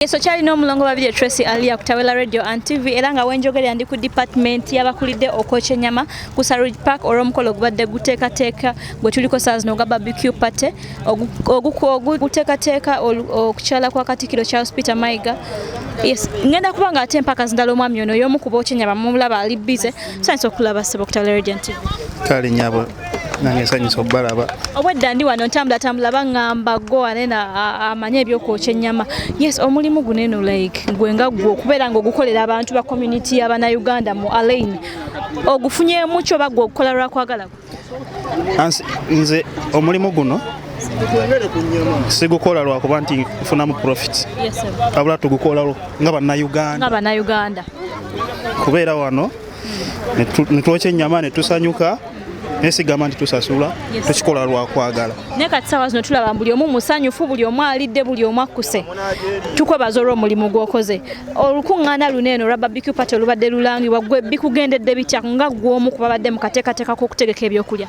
Yesu kyali n'omulongo babiri Tracy Alia ku Tawela Radio and TV era nga wenjogerera ndi ku department y'abakulidde okwokya ennyama ku Saruj Park olw'omukolo ogubadde guteekateeka gwe tuliko saa zino ogwa barbecue party oguteekateeka okukyala kwa Katikkiro Charles Peter Mayiga Yes, ngenda kuba nga ate mpaka zindala omwami ono y'omu ku bookya ennyama mumulaba ali bize sanyisa okulaba ssebo ku Tawela Radio and TV. Kale nyabo nange nsanyusa okubalaba obwedda ndi wano ntambulatambula baŋŋamba go anena amanye ebyokwokya ennyama yes omulimu guno eno like gwe nga gwe okubeera nga ogukolera abantu ba community y'abanauganda mu alain ogufunyemu kyo oba gwe okukola lwakwagala nze omulimu guno sigukola lwakuba nti nfunamu profit abula tugukolalo nga banauganda kubeera wano netwokya ennyama netusanyuka nesigamba nti tusasula tukikola lwakwagala naye kati sawa zino tulaba buli omu musanyufu buli omu alidde buli omu akkuse tukwebaza olwo omulimu gwokoze olukuŋŋaana luno eno olwa babiq paty olubadde lulangibwa gwe bikugendedde bitya nga gwomu ku babadde mu kateekateeka k'okutegeka ebyokulya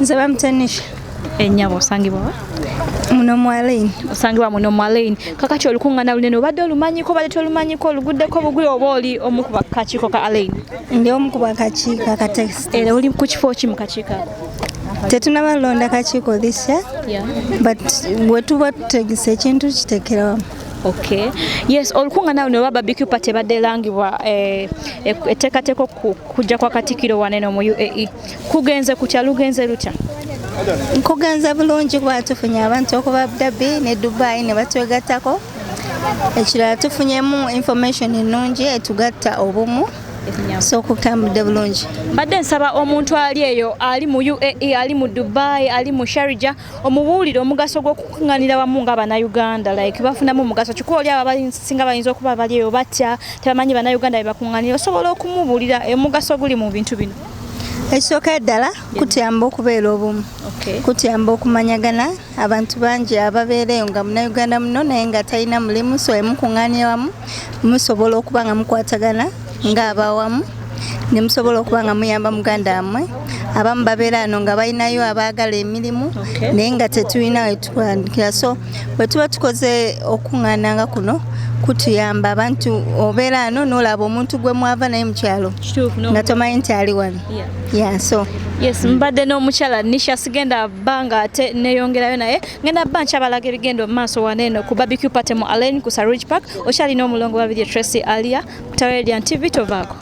nze bamutanisha enyabo osangibwa wa muno mwalaini osangibwa muno mwalaini kakati olukungana lunene obadde olumanyiko obadde tolumanyiko oluguddeko bugwi oba oli omu ku bakakiiko ka alaini ndi omu ku bakakiiko akatekisi era oli ku kifo ki mu kakiiko ako tetunaba londa kakiiko this year yeah. but wetuba tutegesa ekintu kitekerawamu Okay. Yes, olukungana luno oba barbecue party badde langibwa eh, etteekateeka okujja kwa Katikkiro waneno mu UAE. kugenze kutya lugenze lutya nkugenze bulungi kuba tufunye abantu okuba abudabbi ne dubai ne batwegattako ekirala tufunyemu information ennungi etugatta obumu so okutambudde bulungi mbadde nsaba omuntu ali eyo ali mu uae ali mu dubai ali mu sharija omubuulire omugaso gw'okukuŋŋanira wamu nga banauganda like bafunamu omugaso kikuba oli abo abasinga bayinza okuba bali eyo batya tebamanyi banauganda bebakuŋŋanira osobola okumubuulira omugaso guli mu bintu bino ekisooka ddala kutuyamba okubeera obumu kutuyamba okumanyagana abantu bangi ababeera eyo nga munauganda muno naye nga talina mulimu so emukuŋŋaanya wamu musobola okuba nga mukwatagana ng'abawamu ne musobola okuba nga muyamba muganda wammwe abamu babeera ano nga balinayo abaagala emirimu naye nga tetulina wetutandikira so bwe tuba tukoze okuŋŋaana nga kuno kutuyamba abantu obeera ano n'olaba omuntu gwe mwava naye mukyalo nga tomanyi nti ali wano yaso yes mbadde n'omukyala nisha sigenda bba nga ate neyongerayo naye ngenda bba nkyabalaga ebigenda omu maaso waneeno ku babicu party mu alain ku saruj park okyalina omulongo babiri tracy alia Radiant TV tovaako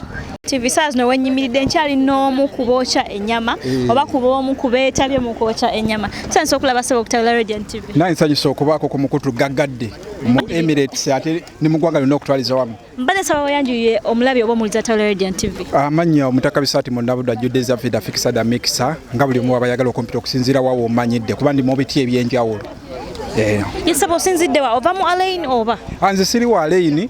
TV saa zino wenyimiridde nkyali n'omu ku bookya ennyama eh. oba ku b'omu ku beetabye mu kwokya ennyama tusanyusa okulaba sebo okutabula Radiant TV naye nsanyusa okubaako ku mukutu gaggadde mu Emirates ate ne mu ggwanga lyonna okutwaliza wamu mbadde saba wayanjuye omulabi oba omuliza tabula Radiant TV amannya omutaka bisaati mu nabudwa judde zavida fikisada mikisa nga buli omu abayagala okumpita okusinziira wawo omanyidde kuba ndi mu biti eby'enjawulo eh. yesaba osinzidde wa ova mu alaini oba anze siri wa alaini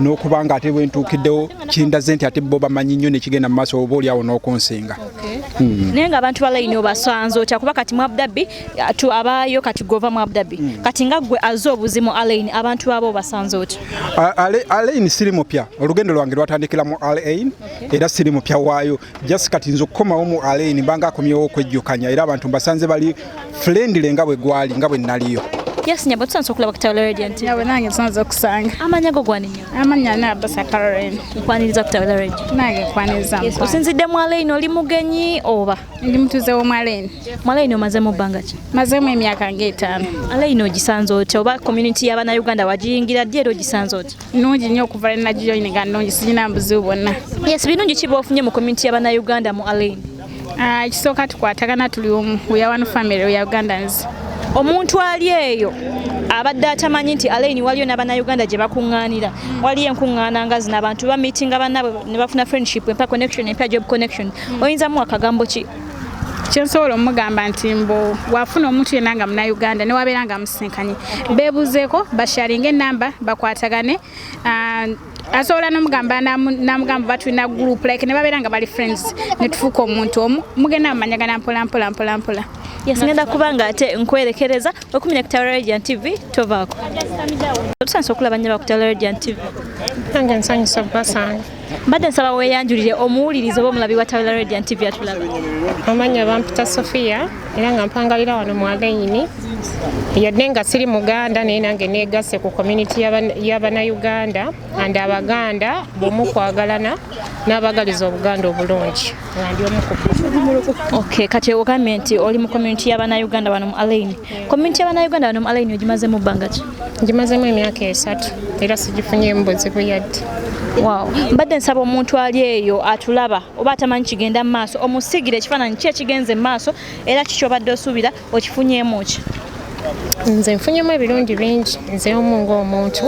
n'okuba nga ate bwentuukiddewo kindaze nti ate bo bamanyi nnyo nekigenda mu maaso oba oliawo n'okunsinga hmm. naye nga abantu balayini obasanze otya kuba kati muabdabi tu abaayo kati gova muabdabi hmm. kati nga gwe aze obuzimu alaini abantu baaba obasanze otya alaini siri mupya olugendo lwange lwatandikira mu alain era siri mupya waayo just kati nze okukomawo mu alaini mbanga akomyewo okwejjukanya era abantu mbasanze bali friendly nga bwe gwali nga bwe naliyo Yes nyabo tusanze okulaba ku Tawula Radio nti. Nyabo nange tusanze okusanga. Amanya go gwani nyo. Amanya na basa Caroline. Nkwaniriza ku Tawula Radio. Nange nkwaniriza. Yes, osinzidde mu Alain oli mugenyi oba? Ndi mutuze wo mu Alain. Mu Alain omaze mu banga ki? Maze mu emyaka ng'etaano. Alain ogisanze otya oba community ya bana Uganda wagiyingira ddi era ogisanze otya? Nungi nyo okuva na gijoininga nungi sirina mbuzibu bwonna. Yes, binungi kiba ofunye mu community ya bana Uganda mu Alain. Ah, ekisooka tukwatagana tuli omu we are one family we are ugandans omuntu ali eyo abadde atamanyi nti alaini waliyo n'abannayuganda gye bakuŋŋaanira waliyo enkuŋŋaana nga zino abantu bamitinga bannaabwe ne bafuna friendship empa connection empya job connection hmm. oyinza muwa kagambo ki kyensobola omugamba nti mbu wafuna omuntu yenna nga munauganda newabeera nga musinkanye bebuzeeko basharinga enamba bakwatagane Ah, asobola nomugamba namugamba oba tulina group like ne babeera nga bali friends ne tufuuka omuntu omu mugenda mumanyagana mpola mpola mpola mpola yes ngenda kuba nga ate nkwerekereza okumenya ku tawala radiant tv tovaako otusanyusa okulaba nnyo bakutawala radiant tv nange nsanyusa basange mbadde nsaba weeyanjulire omuwuliriza oba omulabi wa tawula radiant tv atulaba amanya bampita sofiya era nga mpangalira wano mu alayini yadde nga siri muganda naye nange negase ku community y'abanauganda and abaganda bomu kwagalana n'abagaliza obuganda obulungi nga ndi omu ku okay kati ogambye nti oli mu community y'abanauganda wano mu alayini Community ya bannayuganda bano mu alayini ogimazemu bbanga ki? Ngimazemu emyaka esatu era sigifunyeemu buzibu yadde. Wow. Mbadde nsaba omuntu ali eyo atulaba oba atamanyi kigenda mu maaso omusigire ekifaananyi ki ekigenze mu maaso era kiki obadde osuubira okifunyeemu ki? Nze nfunyemu ebirungi bingi nze omu ng'omuntu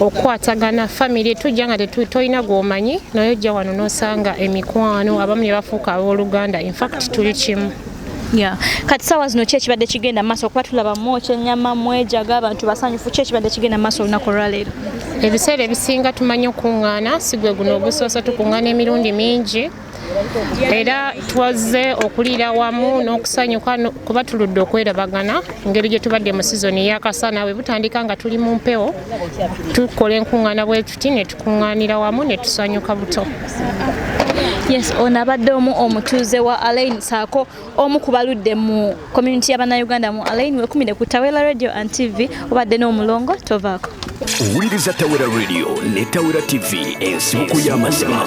okukwatagana famiry tujja nga tetulina gwomanyi naye ojja wano nosanga emikwano abamu ne bafuuka abooluganda infact tuli kimu Yeah. Kati sawa zino kye kibadde kigenda maso okuba tulaba mwoki enyama mwejaga abantu basanyufu kye kibadde kigenda maso olunaku olwaleero ebiseera ebisinga tumanyi okukuŋŋaana sigwe guno ogusoose tukuŋŋaana emirundi mingi era twaze okuliira wamu n'okusanyuka kuba tuludde okwerabagana engeri gye tubadde mu sizoni yakasana bwe butandika nga tuli mu mpewo tukola enkuŋŋaana bwe tuti kunganira wamu ne tusanyuka buto yes ono abadde omu omutuuze wa alain saako omu ku baludde mu community y'abannayuganda mu alain wekumire ku tawera radio and tv obadde n'omulongo tovaako owuliriza tawera radio ne tawera tv ensibuko y'amazima